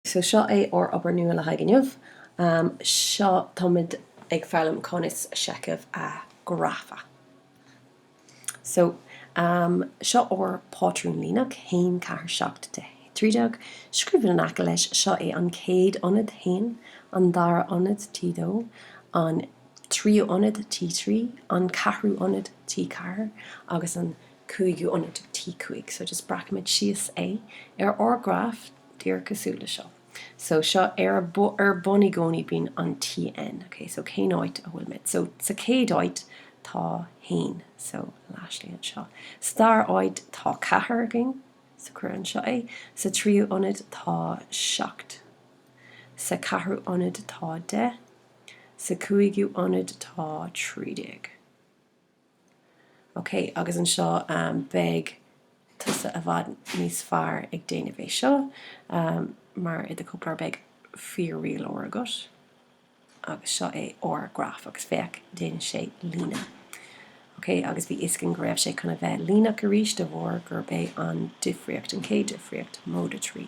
So seo é ár obair nua le haghaidh inniu. Seo táimid ag foghlaim conas seicheamh a grafadh. So seo ár pátrún líneach, haon, ceathair, seacht, deich, trí déag. Scríobhadh in aice leis, seo é an chéad ionad, T haon, an dara ionad, T dó, an tríú ionad, T trí, an ceathrú ionad, T ceathair, agus an cúigiú ionad, T5. So just breacaimid síos é ar ár graf díreach cosúil le seo. So seo ar ar bun i gcónaí bíonn an TN. Okay, so cén áit a bhfuilimid? So sa chéad áit tá haon. So léirigh anseo. Sa dara áit tá ceathair againn. So cuir anseo é. Sa tríú ionad tá seacht. Sa ceathrú ionad tá deich. Sa cúigiú ionad tá trí déag. Ok, agus anseo beidh tusa i bhfad níos fearr ag déanamh é seo, mar i do chóipleabhar beidh fíor-rialóir agat. Agus seo é ár graf, agus féach, déanann sé líne. Ok, agus bhí fhios againn go raibh sé chun a bheith líneach arís de bharr gurb é an difríocht, an chéad difríocht, móide trí.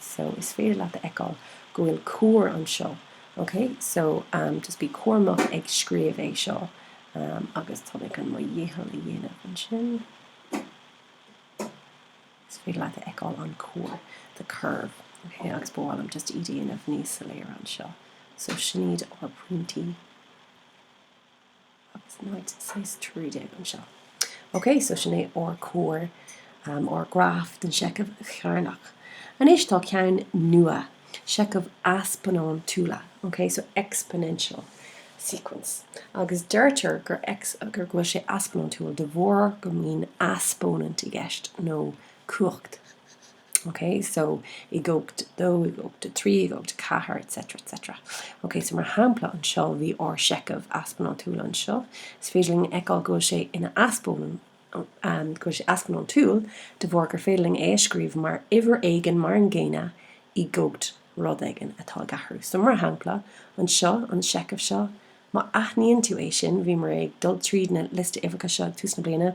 So is féidir leat a fheiceáil go bhfuil cuar anseo. Ok, so um just bí cúramach ag scríobh é seo um agus tá mé chun mo dhícheall a dhéanamh ansin. Is féidir leat a fheiceáil an cuar, the curve. Ok, agus ba mhaith liom just é a dhéanamh níos soiléire anseo. So sin iad ár pointí. Agus ionad 13 anseo. Ok, so sin é ár cuar, ár graf den seicheamh cearnach. Anois tá ceann nua, seicheamh easpónantúla, ok, so exponential sequence. Agus deirtear gur, go bhfuil sé easpónantúil de bharr go mbíonn easpónant i gceist, nó cumhacht. OK, so i gcumhacht 2, i gcumhacht 3, i gcumhacht 4, etc, etc. OK, so mar shampla anseo, bhí ár seicheamh easpónantúil anseo. Is féidir linn a fheiceáil go bhfuil sé ina easpónant, um, go bhfuil sé easpónantúil de bharr gur féidir linn é a scríobh mar uimhir éigin mar an gcéanna i gcumhacht rud éigin atá ag athrú. So mar shampla anseo, an seicheamh seo, má aithníonn tú é sin, bhíomar ag dul tríd na liosta uimhreacha seo ag tús na bliana,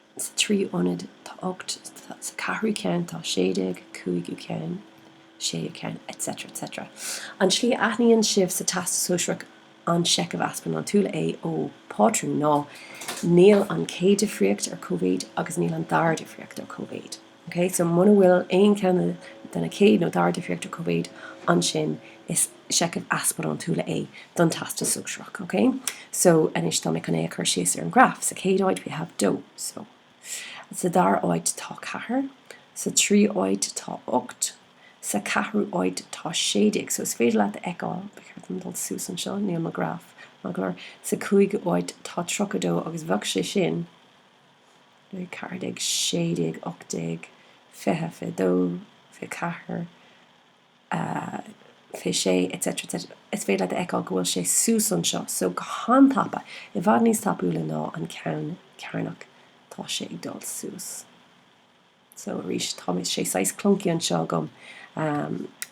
Sa tríú ionad tá ocht, sa ceathrú ceann tá sé déag, cúigiú ceann, séú ceann etc. etc. An tslí a aithníonn sibh sa Teastas Sóisearach an Seicheamh Easpónantúil é ó pátrún ná níl an chéad difríocht ar cóimhéid agus níl an dara difríocht ar cóimhéid. OK, so muna bhfuil aon cheann de na chéad nó dara difríochtaí comónta ansin, is seicheamh easbarántúla é don Teastas Sóisearach. OK? So, anois tá mé chun é a chur síos ar an ghraf. Sa chéad áit, we have 2. So, sa dara áit tá 4. Sa tríú áit tá 8. Sa ceathrú áit tá 16. So, is féidir leat a fheiceáil, ba cheart dom dul suas anseo, níl mo ghraf, mar go leor. Sa cúigiú áit tá 32 agus bheadh sé sin, 14, 16, 18, 20, 22, 24, 26 etc etc Is féidir leat a fheiceáil go bhfuil sé suas anseo, so go han-tapa, i bhfad níos tapúla ná an ceann cearnach tá sé ag dul suas. So arís tá mé, tá sé saghas clunky anseo agam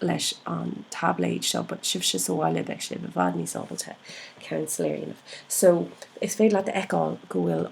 leis an taibléad seo but sibhse sa bhaile beidh sibh i bhfad níos ábalta ceann soiléir a dhéanamh. So is féidir leat a fheiceáil go bhfuil